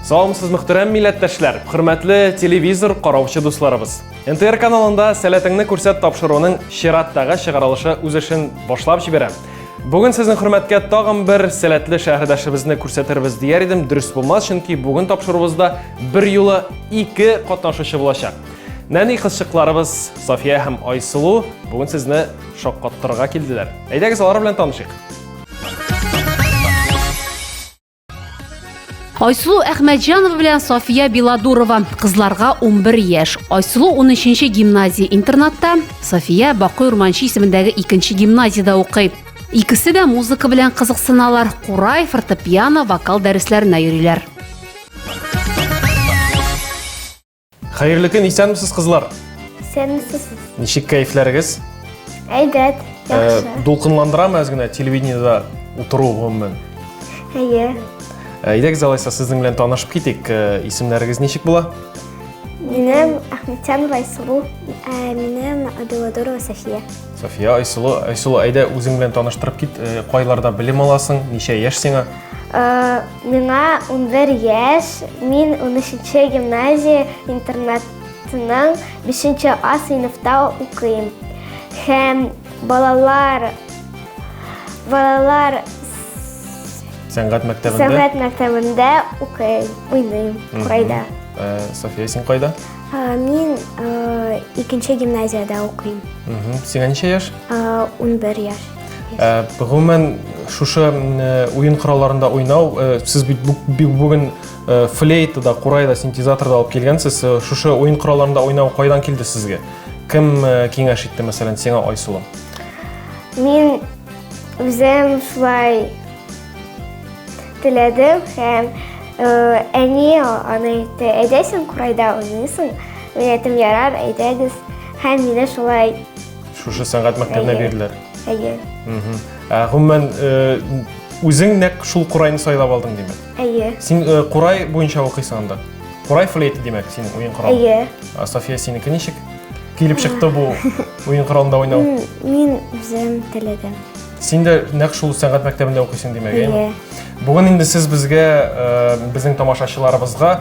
Саламсыз мөхтәрәм милләттәшләр, хөрмәтле телевизор караучы дусларыбыз. НТР каналында сәләтеңне күрсәт тапшыруының чираттагы чыгарылышы үз эшен башлап җибәрә. Бүген сезнең хөрмәткә тагын бер сәләтле шәһәрдәшебезне күрсәтербез дияр идем. Дөрес булмас, чөнки бүген тапшыруыбызда бер юлы ике катнашучы булачак. Нәни кызчыкларыбыз София һәм Айсылу бүген сезне шаккаттырырга килделәр. Әйдәгез алар белән танышыйк. Айсулу Әхмәтҗанова белән София Беладурова. Кызларга 11 яшь. Айсулу 13-нче гимназия интернатта, София Бакый Урманчы исемендәге 2-нче гимназиядә укый. Икесе дә музыка белән кызыксыналар, курай, фортепиано, вокал дәресләренә йөриләр. Хәерле көн, исәнмесез, кызлар. Исәнмесез. Ничек кәефләрегез? Әйбәт, э, яхшы. Ә, дулкынландырамы әз генә телевидениедә утыру гомумән? Әйе. Э, әйдәгез алайса сезнең белән танышып китик. Э, исемнәрегез ничек була? Минем Әхмәтҗан Райсулу, ә минем Абеладорова София. София Айсулу, Айсулу, әйдә үзең белән таныштырып кит. Кайларда белем аласың? Ничә яшь сиңа? Э, миңа 11 яшь, мин 13 гимназия интернатының 5 А сыйныфта укыйм. Һәм балалар балалар сәнгать мәктәбендә сәнгать мәктәбендә укыйм, уйныйм, курайда. Э, София, син кайда? Э, мин икенче гимназиядә укыйм. Сиңа ничә яшь? 11 яшь. Э, гомумән шушы э, уен коралларында уйнау э, сез бит бүген флейта да курай да синтезатор да алып килгәнсез шушы уен коралларында уйнау кайдан килде сезгә кем киңәш итте мәсәлән сиңа айсылу мин үзем шулай теләдем һәм әни аны әйтте әйдәсең курайда уйныйсың мин әйтем ярар әйдәгез һәм мине шулай Шушы сәнгать мәктәбенә Әйе. бирделәр. Әйе. Мгм. Ә, Гомумән, э, үзең нәкъ шул курайны сайлап алдың, димәк. Әйе. Син э, курай буенча укыйсың анда. Курай флейты, димәк, синең уен коралы. Әйе. Ә София синеке ничек? Килеп чыкты бу уен коралында уйнау. М, Мин үзем теләдем. Син дә нәкъ шул сәнгать мәктәбендә укыйсың, димәк, әйеме? Әйе. Бүген инде сез безгә, э, безнең тамашачыларыбызга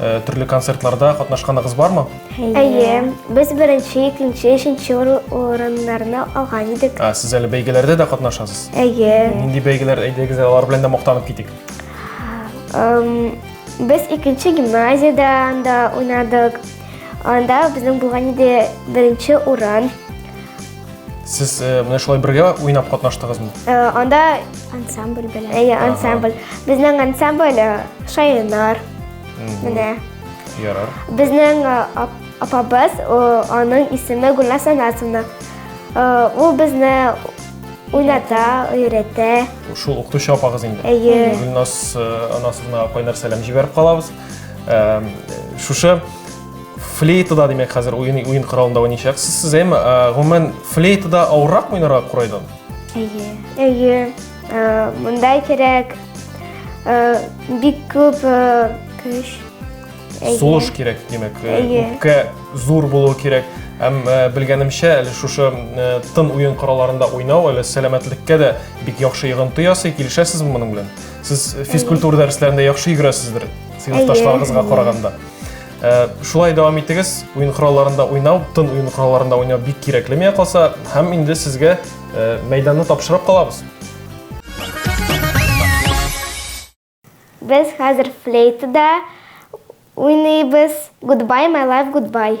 э, төрле концертларда катнашканыгыз бармы? Әйе, без беренче, икенче, өченче урыннарны алган идек. Ә, сез әле бәйгеләрдә дә катнашасыз? Әйе. Нинди бәйгеләр әйдәгез, алар белән дә мактанып китик. Без икенче гимназиядә да уйнадык. Анда безнең булган иде беренче урын. Сез э, менә шулай бергә уйнап катнаштыгызмы? Э, анда ансамбль белән. Әйе, ансамбль. Безнең ансамбль э, шаянар. Менә. Ярар. Безнең апабыз, аның исеме Гүлназ Анасовна. Ул безне уйната, өйрәтә. Шул укытучы апагыз инде. Әйе. Гүлназ Анасовна кайнар сәлам җибәреп калабыз. Шушы Флейтада, димәк, хәзер уен, уен коралында уйнайчаксыз. Сез әм, гомумән, флейтада авыррак уйнарга курайдан? Әйе. Әйе. Э, монда кирәк э, бик күп э, көч. Сулыш кирәк, димәк. Үпкә зур булу кирәк. Әм белгәнемчә, әле шушы тын уен коралларында уйнау әле сәламәтлеккә дә бик яхшы йогынты ясый. Килешәсезме моның белән? Сез физкультура дәресләрендә яхшы йөгерәсездер, сыйныфташларыгызга караганда. Э, шулай дәвам итегез уен коралларында уйнау тын уен коралларында уйнау бик кирәкле миңа калса һәм инде сезгә э, мәйданны тапшырып калабыз без хәзер флейтада уйныйбыз гудбай май лайф гудбай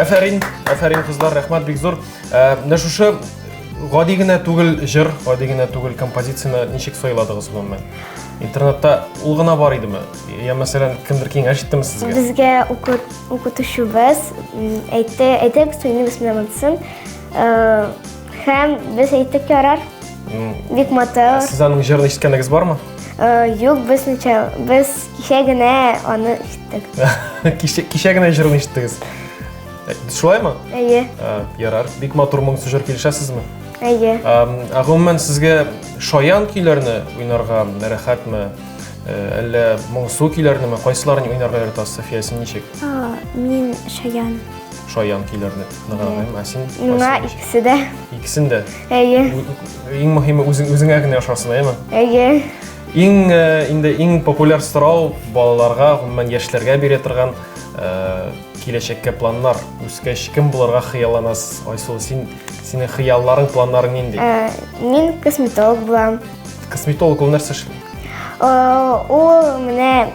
Афәрин, афәрин кызлар, рәхмәт бик зур. Э, менә шушы гади генә түгел җыр, гади генә түгел композицияне ничек сайладыгыз гомумән? Интернетта ул гына бар идеме? Я, мәсәлән, кемдер киңәш иттеме сезгә? Безгә укытучыбыз әйтте, әйтәк суйны бисмилла монсын. Һәм без әйттек ярар. Бик матур. Сез аның җырын ишеткәнегез бармы? Юк, без ничә, без кичә генә аны ишеттек. Кичә кичә генә җырын ишеттегез. Шулаймы? Әйе. Ярар. Бик матур моң сүзләр килешәсезме? Әйе. Ә гомумән сезгә шаян көйләрне уйнарга рәхәтме? Э, әллә моңсу көйләрнеме кайсыларын уйнарга яратасыз софия син ничек мин шаян шаян көйләрне ныграгым ә син миңа икесе дә икесен дә әйе иң мөһиме үзең үзеңә генә ошасын әйеме әйе иң э, инде иң популяр сорау балаларга гомумән яшьләргә бирә торган э, киләчәккә планнар үскәч кем булырга хыялланасыз айсылу син синең хыялларың планнарың нинди мин косметолог булам Косметолог ул нәрсә эшли? Ул менә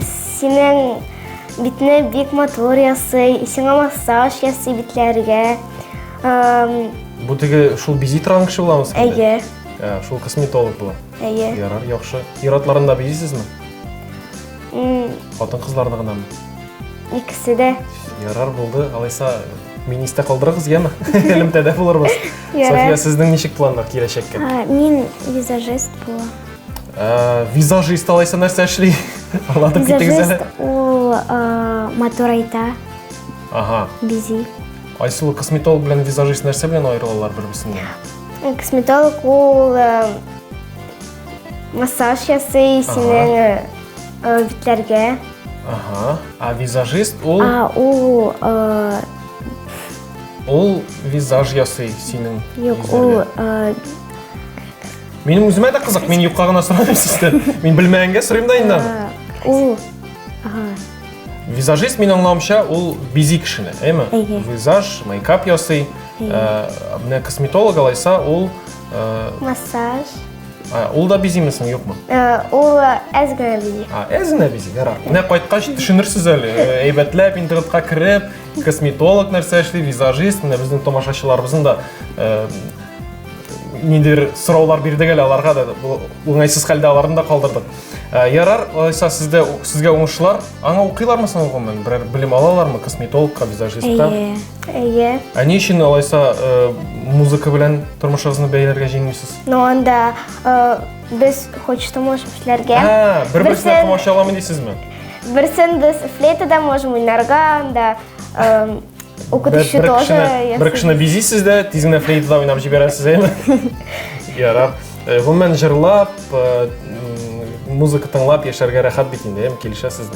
синең битне бик матур ясый, сиңа массаж ясый битләргә. Бу теге шул бизи торган кеше буламы сез? Әйе. Ә, шул косметолог була. Әйе. Ярар, яхшы. Ир-атларны да бизисезме? Хатын-кызларны гынамы? Икесе дә. Ярар булды. Алайса министә калдырыгыз, яме? Элемтәдә булырбыз. София, сезнең ничек планнар киләчәккә? Мин визажист була. Э, визажист алайса нәрсә эшли? Аңлатып китегез әле. Визажист ул э, матур айта. Ага. Бизи. Айсулу косметолог белән визажист нәрсә белән аерылалар бер-берсеннән? Косметолог ул э, Массаж ясый синең битләргә. Ага. А визажист ул? А ул Ул визаж ясый синең. Юк, ул Минем үземә дә кызык, мин юкка гына сорамыйм сездән. Мин белмәгәнгә сорыйм да инде. Ул Визажист мин аңлавымча ул бизи кешене, әйме? Визаж, мейкап ясый. Менә косметолог алайса ул Массаж. Ул да бизимесең, юкмы? Ул әз генә бизи. Әз генә бизи, ярар. Менә кайткач төшенерсез әле. Әйбәтләп интернетка кереп, косметолог нәрсә эшли, визажист, менә безнең тамашачыларыбызның да ниндидер сораулар бирдек әле аларга да уңайсыз хәлдә аларны да калдырдык. Ярар, алайса сездә сезгә уңышлар. Аңа укыйлармы соң гомумән? Берәр белем алалармы косметологка, визажистка? Әйе. Ә ни өчен алайса э, музыка белән тормышыгызны бәйләргә җыенмыйсыз? Ну анда э, без хочется можем эшләргә. Ә, бер-берсенә Берсен- комачауламый дисезме? Берсен без флейтада можем уйнарга, анда э, укытучы Бер- тоже. кешене- ясый. Бер кешене бизисез дә, тиз генә флейтада уйнап җибәрәсез, әйме? Ярар. Э, Гомумән җырлап, э, м, музыка тыңлап яшәргә рәхәт бит инде, әйме? Килешәсезме?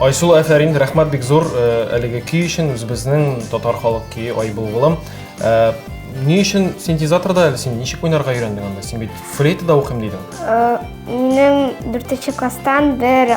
Айсул Әфәрин, рәхмәт бик зур э, әлеге көй өчен, үзебезнең татар халык көе Ай булгылым. Э, ни өчен синтезаторда әле син ничек уйнарга өйрәндең анда? Син бит флейтада укыйм дидең. Э, минем 4 класстан бер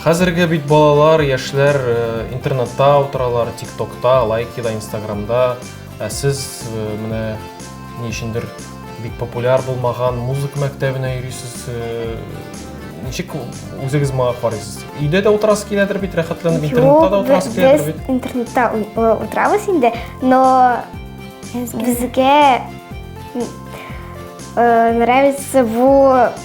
Хәзерге бит балалар, яшьләр э, интернетта утыралар, тиктокта, лайкида, инстаграмда. Ә сез э, менә ни өчендер бик популяр булмаган музыка мәктәбенә йөрисез. Э, ничек үзегез моңа карыйсыз? Өйдә дә утырасы киләдер бит, рәхәтләнеп интернетта да утырасы киләдер бит. Без интернетта утырабыз инде, но безгә нравится бу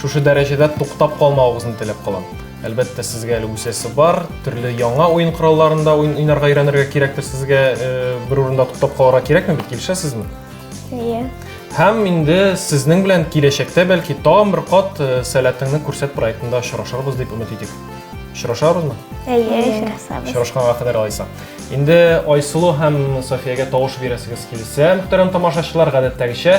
Шушы дәрәҗәдә туктап калмавыгызны теләп калам. Әлбәттә, сезгә әле үсәсе бар, төрле яңа уен коралларында уен уйнарга өйрәнергә кирәктер сезгә, э, бер урында туктап калырга кирәкме бит, килешәсезме? Әйе. Һәм инде сезнең белән киләчәктә бәлки тагын бер кат э, Сәләтеңне күрсәт проектында очрашырбыз дип өмет итик. Очрашабызмы? Әйе, очрашабыз. Очрашканга кадәр алайса. Инде Айсылу һәм Софиягә тавыш бирәсегез килсә, мөхтәрәм тамашачылар, гадәттәгечә,